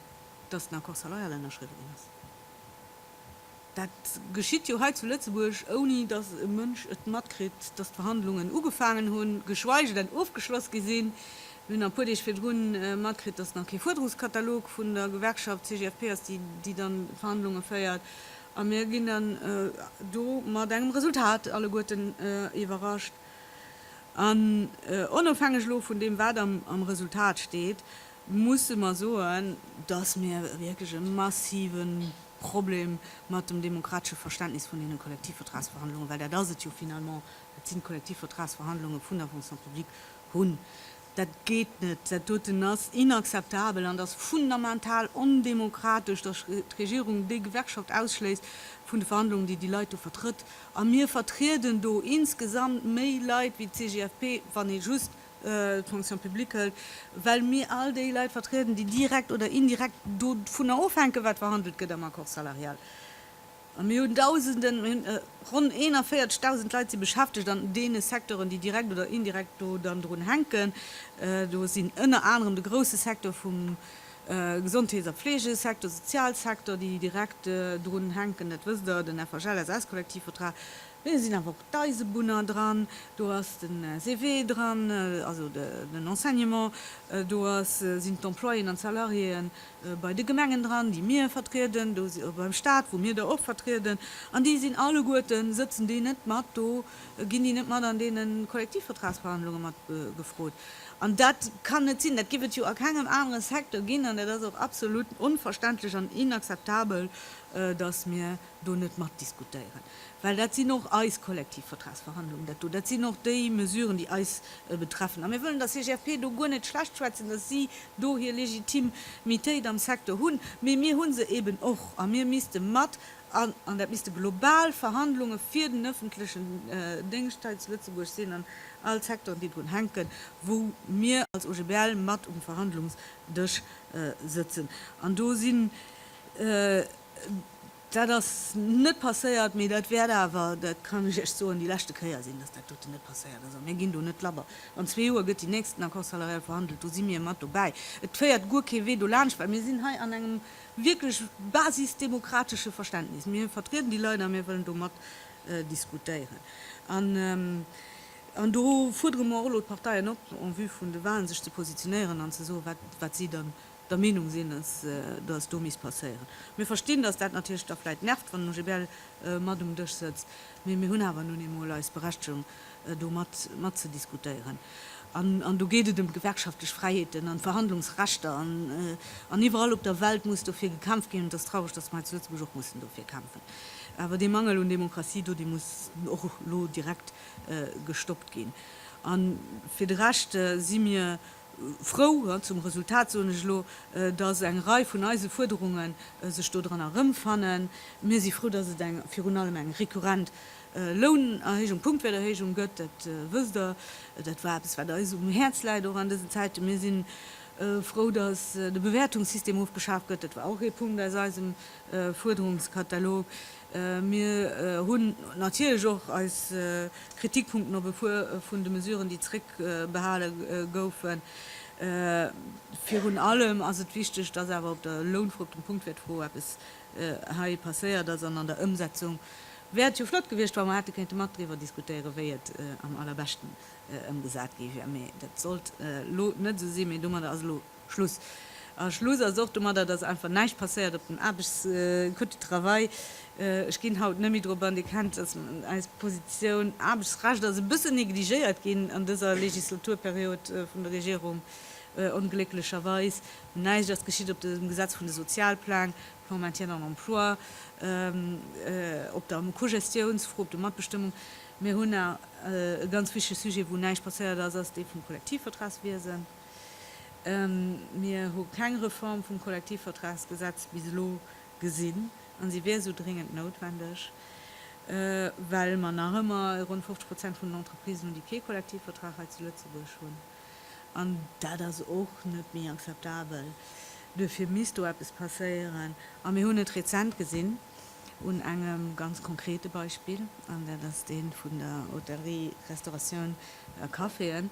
dass den Accord salarial ënnerschriwwe ginn ass. Dat geschitt jo hei zu Lëtzebuerg, ouni dass e Mënsch et matkritt, dass d'Verhandlungen ugefaangen hunn, geschweige denn ofgeschloss gi sinn. Mir hunn nach e puer Deeg virdrun matkritt, dass nach kee Fuerderungskatalog vun der Gewerkschaft CGFP ass, déi déi dann d'Verhandlunge féiert. A mir ginn dann do mat engem Resultat alleguerten iwwerrascht. An onofhängeg elo vun deem, wat am Resultat steet, musse mer soen, dass mir wierklech e massive Problem mat dem demokratesche Verständnis vun deene Kollektivvertragsverhandlungen, well dat ass et jo finalement, dat sinn d'Kollektivvertragsverhandlunge vun der Fonction publique, Hunn. Dat geet net! Dat doten ass inakzeptabel an et ass fundamental ondemokratesch, datt d'Regierung déi Gewerkschaft ausschléisst vun de Verhandlungen, déi déi Leit do vertrëtt. A mir vertrieden do insgesamt méi Leit wéi d'CGFP, wann ee just d'Fonction publique hëlt, well mir all déi Leit vertrieden, déi direkt oder indirekt dovunner ofhänken, wat verhandelt gëtt am Accord salarial. A mir hunn Dausenden, mir hunn ronn 41.000 Leit si beschäftegt an deene Secteuren, déi direkt oder indirekt do dann drun hänken. Do sinn ënner anerem de grouse Secteur vum Gesondheets a Fleegesecteur, Sozialsecteur, déi direkt drun hänken, dat wësst Der, den FHL-SS-Kollektivvertrag. Mee do sinn awer och d'Eisebunner dran, do ass de CGW dran, also den Enseignement, do sinn d'Employéen an d'Salariéen. bei de Gemengen dran, déi mir vertrieden, do si beim Stat, wou mir der och vertrieden, an déi sinn alleguerten, sëtzen déi net mat do, ginn déi net mat an deene Kollektivvertragsverhandlunge mat gefrot. An dat kann net sinn, dat géif et jo a kengem anere Secteur ginn, an dat ass och absolut onverständlech an inakzeptabel, datt mir do net matdiskutéieren, well dat sinn och eis Kollektivvertragsverhandlungen, dat do, dat sinn och déi Mesuren, déi eis betreffen. A mir wëllen der CGFP do guer net schlecht schwätzen, datt si do hir Legitimitéit am Secteur hunn, mee mir hu se eeben och. A mir misste mat, an dat misste global Verhandlunge fir den ëffentlechen Déngscht hei zu Lëtzebuerg sinn an all d'Secteuren, déi drun hänken, wou mir als OGBL mat um Verhandlungsdësch sëtzen. An do sinn Dat ass net passéiert, mee dat wäert awer, dat kann ech Iech soen, déi leschte Kéier sinn, dass dat doten net passéiert ass. A mir ginn do net labber. An zwee Joer gëtt deen nächsten Accord salarial verhandelt, do si mir mat dobäi. Et féiert guer kee Wee dolaanscht, well mir sinn hei an engem wierklech basisdemokratesche Verständnis. Mir vertrieden déi Leit a mir wëllen do mat diskutéieren. An do fuerdere mer och elo d'Parteien op, en vue vun de Walen sech ze positionéieren an ze soen, wat si dann der Meenung sinn, dass et do misst passéieren. Mir verstinn, dass dat natierlech da vläicht nervt, wann den OGBL mat um Dësch sëtzt, mee mir hunn awer nun eemol eis Berechtigung, do matzediskutéieren. An do geet et ëm gewerkschaftlech Fräiheeten an Verhandlungsrechter an iwwerall op der Welt muss dofir gekämpft ginn. Et ass traureg, dass mer hei zu Lëtzebuerg och mussen dofir kämpfen. Awer dee Mangel un Demokratie do, dee muss och elo direkt gestoppt ginn. A fir de Rescht si mir frou, zum Resultat soen ech elo, dass eng Rei vun eise Fuerderunge sech do dran erëmfannen. Mir si frou, dass et virun allem eng rekurrent Lounerhéijung, Punktwäerterhéijung gëtt, dat wësst Der. Dat war eppes, wat eis um Häerz läit, och an dësen Zäiten. Mir si frou, dass de Bewäertungssystem ofgeschaaft gëtt, dat war och ee Punkt aus eisem Fuerderungskatalog. Mir hunn natierlech och eis Kritikpunkten op e puer vun de Mesuren, déi zréckbehale goufen. Virun allem ass et wichteg, dass awer op der Lounfro, op dem Punktwäertfro eppes hei passéiert ass. An an der Ëmsetzung wär et jo flott gewiescht, wa mer hätte kéinte mat driwwer diskutéieren, wéi et am allerbeschten ëmgesat gi wier. Mee dat sollt elo net esou sinn. Mee domadder ass elo Schluss. A Schluss ass och domadder, dass einfach näischt passéiert op dem Aarbechtscode du travail. Ech ginn haut net méi drop an. Dir kennt, dass eis Positioun, Aarbechtsrecht ass e bësse negligéiert ginn an dëser Legislaturperiod vun der Regierung, onglécklecherweis. Näischt ass geschitt op dem Gesetz vun de Sozialpläng, Plan maintien en emploi, op der Cogestiounsfro, op der Matbestëmmung. Mir hunn nach e ganz wichtige Sujet, wou näischt passéiert ass, ass dee vum Kollektivvertragswiesen. Mir hu keng Reform vum Kollektivvertragsgesetz bis elo gesinn, a si wier esou dréngend noutwendeg, well mer nach ëmmer ronn 50 Prozent vun den Entreprisen hunn, déi kee Kollektivvertrag hei zu Lëtzebuerg hunn. An dat ass och net méi akzeptabel. Duerfir misst do eppes passéieren. A mir hunn et rezent gesinn un engem ganz konkrete Beispill, an dat ass dee vun der Hotellerie, Restauratioun a Caféen.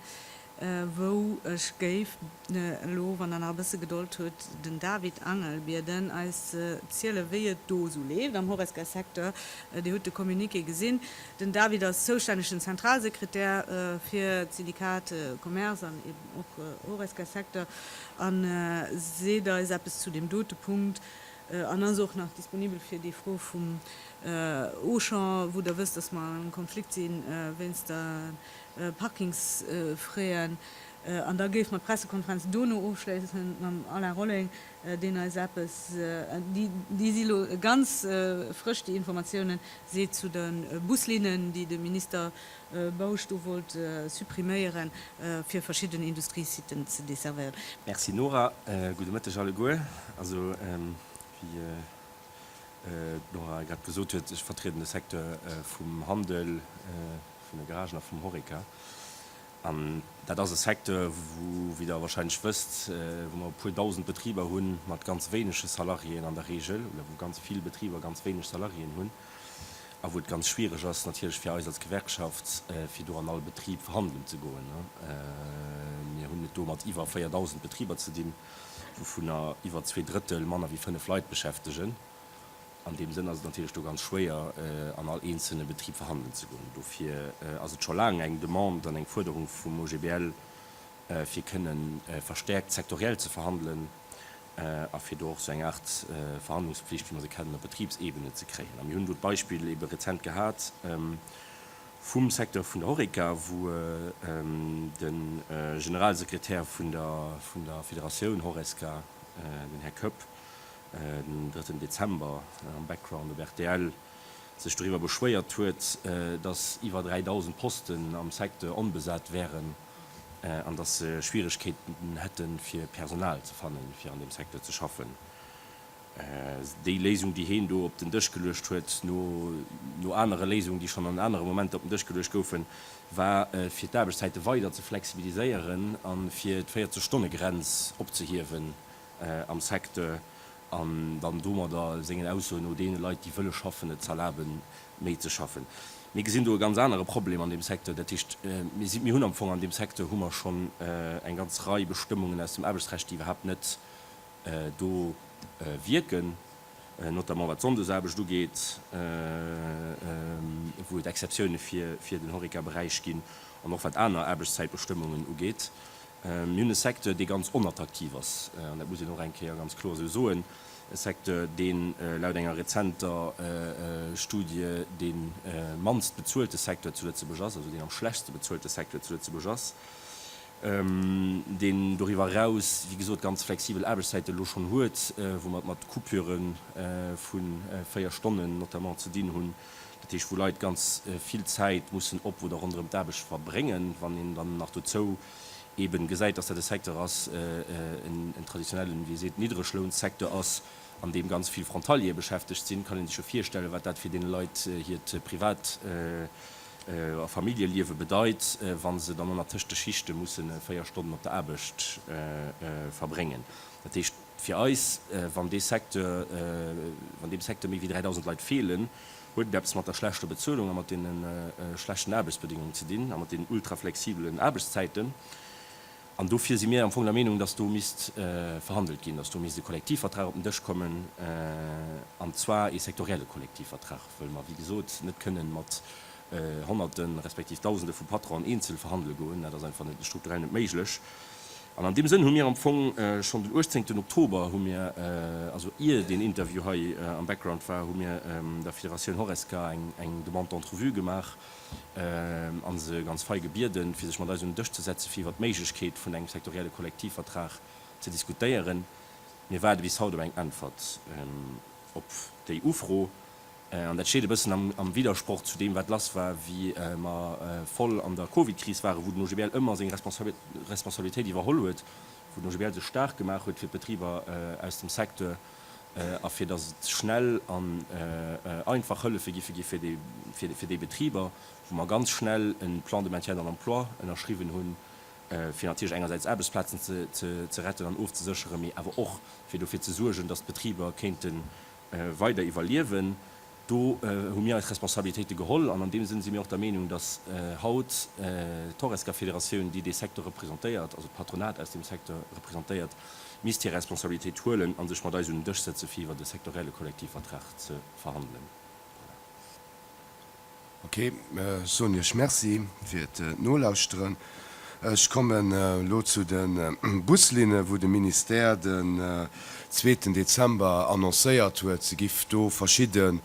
wou ech géif elo, wann Der nach e bësse Gedold hutt, den David Angel bieden, eis ze zielen, wéi et do esou leeft am Horesca-Secteur. Dir hutt de Communiqué gesinn. Den David ass zoustännegen Zentralsekretär fir d'Syndikat Commerce an eben och Horesca-Secteur a seet eis eppes zu deem dote Punkt an ass och nach disponibel fir déi Fro vum Auchan, wou Der wësst, dass mer am Konflikt si wéinst der Parkingsfraien. An da géife mer d'Pressekonferenz dono ofschléisse mam Alain Rolling, deen eis eppes, déi si lo ganz frësch, déi Informatiounen, seet zu de Buslinnen, déi de Minister Bausch do wollt suppriméiere fir verschidden Industriesitten ze desservéieren. Merci Nora. Gudde Mëtteg alleguer. Also, wéi d'Nora grad gesot huet, ech vertrieden de Secteur vum Handel, vun de Garagen a vum Horeca. An dat ass e Secteur, wou, wéi Der wahrscheinlech wësst, wou mer e puer Dausend Betriber hu mat ganz wéinege Salariéen an der Regel, oder wou ganz vill Betriber ganz wéineg Salariéen hunn, a wou et ganz schwierig ass natierlech fir eis als Gewerkschaft, fir do an all Betrib verhandelen ze goen. Mir hunn et do mat iwwer 4.000 Betriber ze dinn, wouvunner iwwer zwee Drëttel manner wéi fënnef Leit beschäftegen. An deem Sënn ass et natierlech do ganz schwéier, an all eenzelne Betrib verhandelen ze goen. Dofir ass et scho laang eng Demande an eng Fuerderung vum OGBL, fir kënne verstäerkt sektoriell ze verhandelen a fir do och esou eng Aart Verhandlungspflicht, wéi mer se kennen, op Betribsebene ze kréien. A mir hunn do d'Beispill ebe rezent gehat vum Secteur vun der Horeca, wou de Generalsekretär vun der Federatioun Horesca, den Här Koepp, en drëtten Dezember am Background op rtl sech doriwwer beschwéiert huet, datt iwwer 3.000 Posten am Secteur onbesat wären an datt se Schwieregkeeten hätten, fir Personal ze fannen, fir an deem Secteur ze schaffen. Déi Léisung, déi heen do op den Dësch geluecht huet, no anere Léisungen, déi schonn an anere Momenter op den Dësch geluecht goufen, war, fir d'Aarbechtszäite weider ze flexibiliséieren a fir d'Véierzeg-Stonne-Grenz opzehiewen, am Secteur an dann domadder, sengen Aussoen no, deene Leit, déi wëlle schaffen, et z'erlabe méi ze schaffen. Mir gesinn do e ganz anere Problem an deem Secteur. Dat heescht, mir hunn am Fong an deem Secteur hu mer schonn eng ganz Rei Bestëmmungen aus dem Aarbechtsrecht, déi iwwerhaapt net do wierken, notamment wat d'Sonndesaarbecht ugeet, wou et Exceptioune fir den Horeca-Beräich ginn, an och wat aner Aarbechtszäitbestëmmungen ugeet. Mir hunn e Secteur, dee ganz onattraktiv ass, an dat muss een och eng Kéier ganz kloer esou soen, e Secteur, dee laut enger rezenter Studie dee mannst bezuelte Secteur zu Lëtzebuerg ass, also deen am schlechtste bezuelte Secteur zu Lëtzebuerg ass, deen doriwwer eraus, wéi gesot, ganz flexibel Aarbechtszäite elo schonn huet, wou mer et mat Coupuren vu véier Stonnen notamment ze dinn hunn. Dat heescht, wou Leit ganz vill Zäit mussen op oder ronderëm d'Aarbecht verbréngen. Wann een dann nach dozou eeben gesäit, dass dat e Secteur ass, en traditionellen, wéi ee seet, Niddreglounsecteur ass, an deem ganz vill Frontaliere beschäftegt sinn, kann ee sech jo virstellen, wat dat fir deene Leit hiert Privat a Familljeliewe bedeit, wa se dann ënner tëscht de Schichte mussen véier Stonnen op der Aarbecht verbréngen. Dat heescht. Fir eis, wann dee Secteur, wann deem Secteur méi wéi 3.000 Leit feelen, huet et eppes mat der schlechter Bezuelung a mat deene schlechten Aarbechtsbedingungen ze dinn a mat deenen ultraflexibelen Aarbechtszäiten. An dofir si mir am Fong der Meenung, dass do misst verhandelt ginn, dass do misst e Kollektivvertrag op den Dësch kommen, an zwar ee sektorielle Kollektivvertrag, well mer, wéi gesot, net kënnen mat Honnerte respektiv Dausende vu Patronen eenzel verhandele goen. Dat ass einfach net, strukturell net méiglech. An an deem Sënn hu mir am Fong schonn den 18 Oktober hu mir, also ier deen Interview hei am Background war, hu mir der Federatioun Horesca eng Demande d'entrevue gemaach a se ganz fei gebieden, fir sech mat eis un den Dësch ze setzen, fir iwwert d'Méiglechkeet vun engem sektorielle Kollektivvertrag ze diskutéieren. Mir waarde bis haut op eng Äntwert op déi Ufro. An dat steet e bëssen am Widdersproch zu deem, wat lass war, wéi mer voll an der Covid-Kris waren, wou den OGBL ëmmer seng Responsabilitéit iwwerholl huet, wou den OGBL sech staark gemaach huet fir d'Betriber aus dem Secteur a fir datt et schnell an einfach Hëllefe giffe gi fir déi Betriber, wou mer ganz schnell e Plan de maintien dans l'emploi ënnerschriwwen hunn, fir natierlech engersäits Aarbechtsplazen ze retten an ofzesécheren, mee awer och fir dofir ze suergen, datt d'Betriber kéinten weider iwwerliewen. Do hu mir eis Responsabilitéite geholl an an deem Sënn si mir och der Meenung, datt haut d'Horesca-Federatioun, déi dee Secteur representéiert, also d'Patronat aus deem Secteur representéiert, misst hir Responsabilitéit huelen a sech mat eis un en Dësch sëtze fir iwwert e sektorielle Kollektivvertrag ze verhandelen. Voilà. Ok, ech soen iech Merci fir d'Nolauschteren. Ech kommen elo zu de Buslinne wou de Ministère den zweeten Dezember annoncéiert huet, se giff do verschidde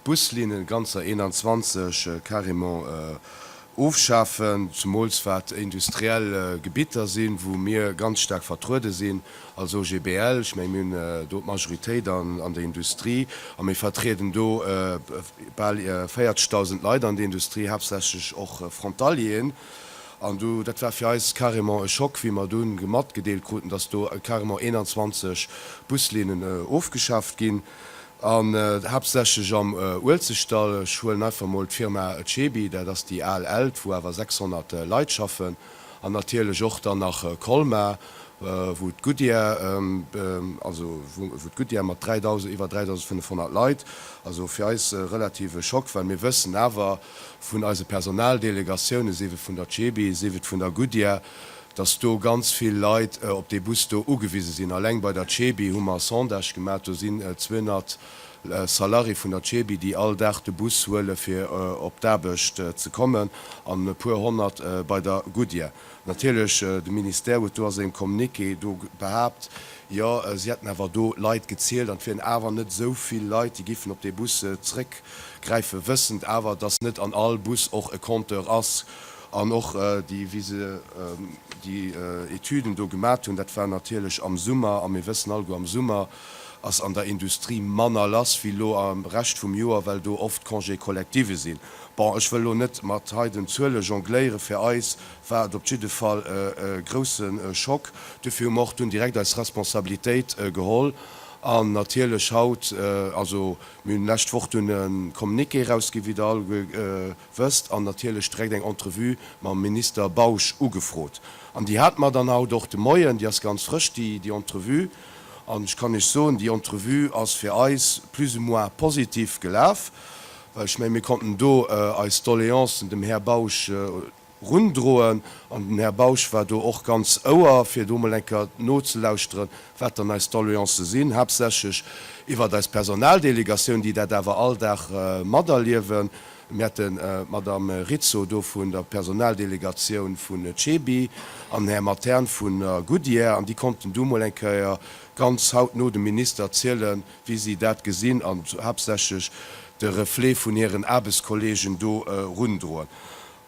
Buslinne, ganzer 21, carrément Ofschafen, zumools wat industriell Gebitter sinn, wou mir ganz staark vertruede sinn als OGBL. Ech menge mir hunn do d'Majoritéit an der Industrie a mir vertrieden do bal 40.000 Leit an der Industrie, haaptsächlech och Frontalieren. An do, dat war fir eis carrément e Schock, wéi mer dunn matgedeelt kruten, datt do carrément 21 Buslinnen ofgeschaaft ginn. An haaptsächlech am Uelzechtdall. Ech huelen einfach mol d'Firma Cebi, dat ass déi al Elt, wou awer 600 Leit schaffen. An natierlech och dann nach Colmar, wou d'Goodyear, also wou d'Goodyear mat 3.000, iwwer 3.500 Leit, also fir eis e relative Schock, well mir wëssen awer vun eise Personaldelegatioune, sief et vun der Cebi, sief et vun der Goodyear, dass do ganz vill Leit op dee Bus do ugewise sinn. Alleng bei der CEBI hu mer e Sondage gemaach, do sinn 200 Salarié vun der CEBI, déi all Dag de Bus huele fir op d'Aarbecht ze kommen an e puer honnert bei der Goodyear. Natierlech, de Ministère huet do a sengem Communiqué do behaapt, jo si hätten awer do Leit gezielt an et wieren awer net esou vill Leit, déi giffen op dee Bus zrëckgräifen, wëssend awer, dass net an all Bus och e Compteur ass. An och déi, wéi se déi Etüden do gemat hunn, dat war natierlech am Summer, a mir wëssen alleguer, am Summer ass an der Industrie manner lass wéi elo am Rescht vum Joer, well do oft Congé collective sinn. Bon, ech wëll elo net mat hei den Zuele jongléieren. Fir eis war et op jidde Fall e grousse Schock. Duerfir hu mer och dunn direkt eis Responsabilitéit geholl an natierlech haut, also mir hunn lescht Woch dunn e Communiqué erausgi wéi Der alleguer wësst, an natierlech direkt eng Entrevue mam Minister Bausch ugefrot. An déi hat mer dann haut och de Moien, déi ass ganz frësch, déi, déi Entrevue. An ech kann Iech soen, déi Entrevue ass fir eis plus ou moins positiv gelaf, well ech menge mir konnten do eis Doleancen dem Här Bausch erundroen. An den Här Bausch war do och ganz Ouer, fir do mol eng Kéier nozelauschteren, wat dann eis Doleancë sinn, haaptsächlech iwwert eis Personaldelegatioun, déi dat awer all Dag materliewen. Mir hätten d'Madamm Rizzo do vun der Personaldelegatioun vun CEBI an Här Matern vun der Goodyear an déi konnten du mol eng Kéier ganz hautno dem Minister zielen, wéi si dat gesinn an haaptsächlech de Reflet vun hiren Aarbechtskollegen do erundroen.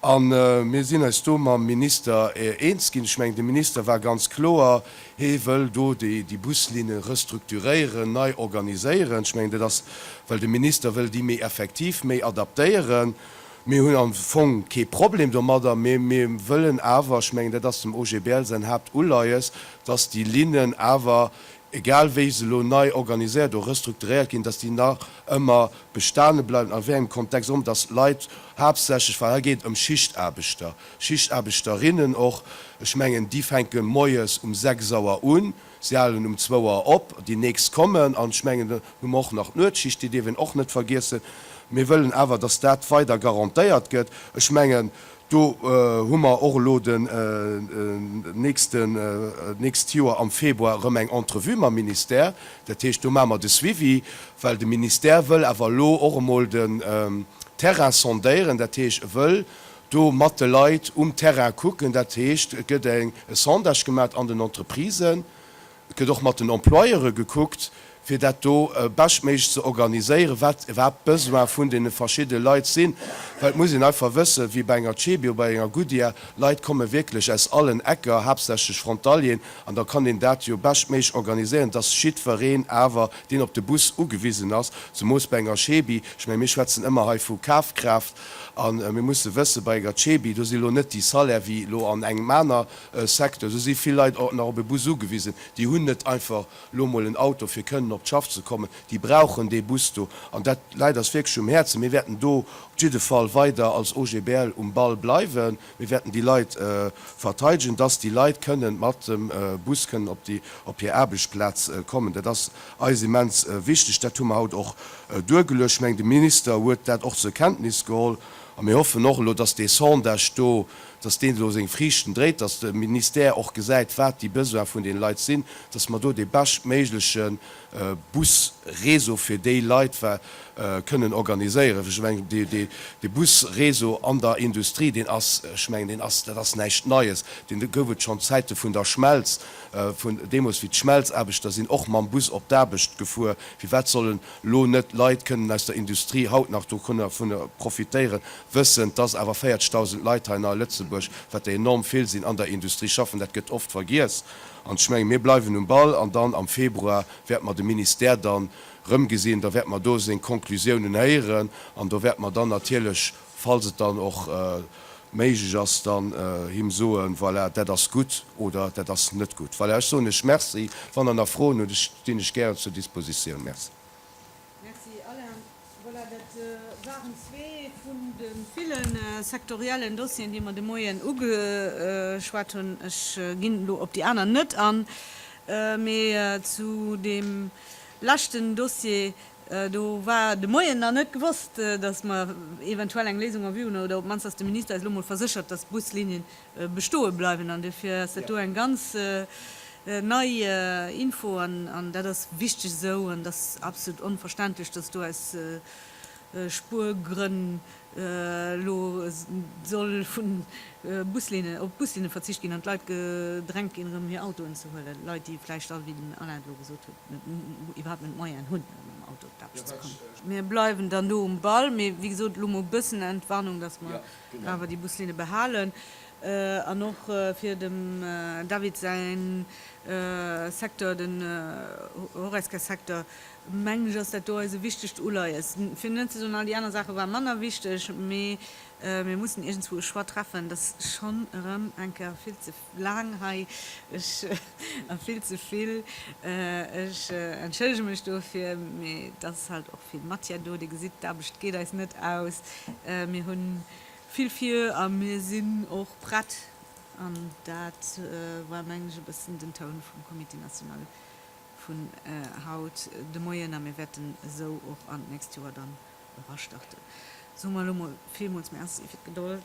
A mir sinn eis do mam Minister eens ginn. Ech mengen, de Minister war ganz kloer. Hee wëll do déi Buslinne restrukturéieren, nei organiséieren. Ech mengen, dat ass, well de Minister wëll déi méi effektiv, méi adaptéieren. Mir hunn am Fong kee Problem domadder, mee mir wëllen awer, ech mengen, dat ass dem OGBL säin Haaptuleies, dass déi Linnen awer, egal wéi se elo nei organiséiert oder restrukturéiert ginn, dass déi nach ëmmer bestane bleiwen, a wéi engem Kontext och ëmmer, dass Leit haaptsächlech, well hei geet et ëm Schichtaarbechter, Schichtaarbechterinnen och, ech mengen déi fänke moies um sechs Auer un, si halen um zwou Auer op, déi nächst kommen an ech mengen dann hu mer och nach d'Nuetsschicht, déi dierf een och net vergiessen. Mir wëllen awer, datt dat weider garantéiert gëtt. Ech mengen do hu mer och elo den nächsten, d'nächst Joer am Februar erëm eng Entrevue mam Ministère, dat heescht do maache mer de Suivi, well de Ministère wëll awer elo och emol den Terrain sondéieren, dat heescht e wëll do mat de Leit um Terrain kucken, dat heescht et gëtt e Sondage gemat an den Entreprisen, et gëtt och mat den Employeure gekuckt, fir dat do beschtméiglech ze organiséieren, wat iwwerhaapt d'Besoine vun deene verschiddene Leit sinn. Well et muss een einfach wëssen, wéi bei enger Cebio, bei enger Goodyear, Leit komme wierklech aus allen Ecker, haaptsächlech Frontalieren, an da kann een dat jo beschtméiglech organiséieren, dass jiddwereen awer, deen op de Bus ugewisen ass, zemoos bei enger Cebi, ech menge mir schwätzen ëmmer hei vu Kafkraaft, A mir musse wëssen, bei enger CEBI, do si lo net déi Salaire wéi lo an engem aner Secteur. Do si vill Leit och nach op e Bus ugewisen. Déi hunn net einfach lo mol en Auto fir kënnen op d'Schaff ze kommen. Déi brauchen dee Bus do. An dat läit eis wierklech um Häerzen. Mir wäerten do op jidde Fall weider als OGBL um Ball bleiwen. Mir wäerten déi Leit verteidegen, dass déi Leit kënnen mat dem Bus kënnen op déi, op hir Aarbechtsplaz kommen. Dat ass eis immens wichteg. Dat hu mer haut och duergeluecht. Ech mengen, de Minister huet dat och zur Kenntnis geholl. A mir hoffen och elo, dass dee Sondage do, dass deen elo seng Friichten dréit, dass de Ministère och gesäit, wat déi Besoine vun deene Leit sinn, dass mer do dee beschtméigleche Busréseau fir déi Leit kënnen organiséieren. Ech mengen, dee Busréseau an der Industrie, deen ass, ech mengen, deen ass, dat ass näischt Neies, deen gouf et schonn Zäite vun der Schmelz, vun deemools, wéi d'Schmelzaarbechter sinn och mam Bus op d'Aarbecht gefuer. Firwat sollen elo net Leit kënnen aus der Industrie haut nach dovun profitéieren, wëssend, dass awer 40.000 Leit hei nach a Lëtzebuerg, wat der enorm vill sinn, an der Industrie schaffen? Dat gëtt oft vergiess. An ech menge mir bleiwen um Ball an dann am Februar wäerte mer de Ministère dann erëm gesinn, da wäerte mer do seng Konklusiounen héieren an do wäerte mer dann natierlech, falls et dann och méiglech ass, dann him soen, voilà, dat ass gutt oder dat ass net gutt. Voilà, ech soen lech Merci. Wann Der nach Froen hutt, stinn ech gären zur Dispositioun. Merci. Merci Alain. Voilà, dat waren zwee vun de ville sektoriellen Dossieren, déi mer de Moien ugeschwat hunn. Ech ginn elo op déi aner net an, mee zu deem leschten Dossier do war de Moien nach net gewosst, datt mer eventuell eng Léisung en vue hunn, oder op d'mannst, datt de Minister eis elo mol verséchert, datt d'Buslinien bestoe bleiwen an dofir ass dat do eng ganz nei Info an dat ass wichteg esou an et ass absolut onverständlech, dass do aus Spuergrënn elo soll vu Buslinnen, op Buslinne verzicht ginn an d'Leit gedrängt ginn erëm hir Autoen ze huelen, Leit déi vläicht all, wéi den Alain et elo gesot huet, net, iwwerhaapt net d'Moyen hunn fir mam Auto op d'Aarbecht ze kommen. Mir bleiwen dann do um Ball, mee wéi gesot elo mol e bëssen Entwarnung, dass mer. awer déi Buslinne behalen an och fir dem David säi Secteur, den Horesca-Secteur, mengen ech, ass dat do eise wichtegst Uleies. Fir net ze soen, all déi aner Saache ware manner wichteg, mee mir mussen iergendzwou e Choix treffen, dass schonn erëm eng Kéier vill ze laang hei, ech a vill ze vill. Ech entschëllege mech dofir, mee et ass halt och vill Matière do. Dir gesitt, d'Aarbecht geet eis net aus. Mir hu vill vir a mir sinn och prett. An dat war, mengen ech, e bëssen den Toun vum Comité national vun haut de Moien. A mir wäerten esou och an d'nächst Joer dann erastarten. Soe mer elo mol villmools Merci fir d'Gedold.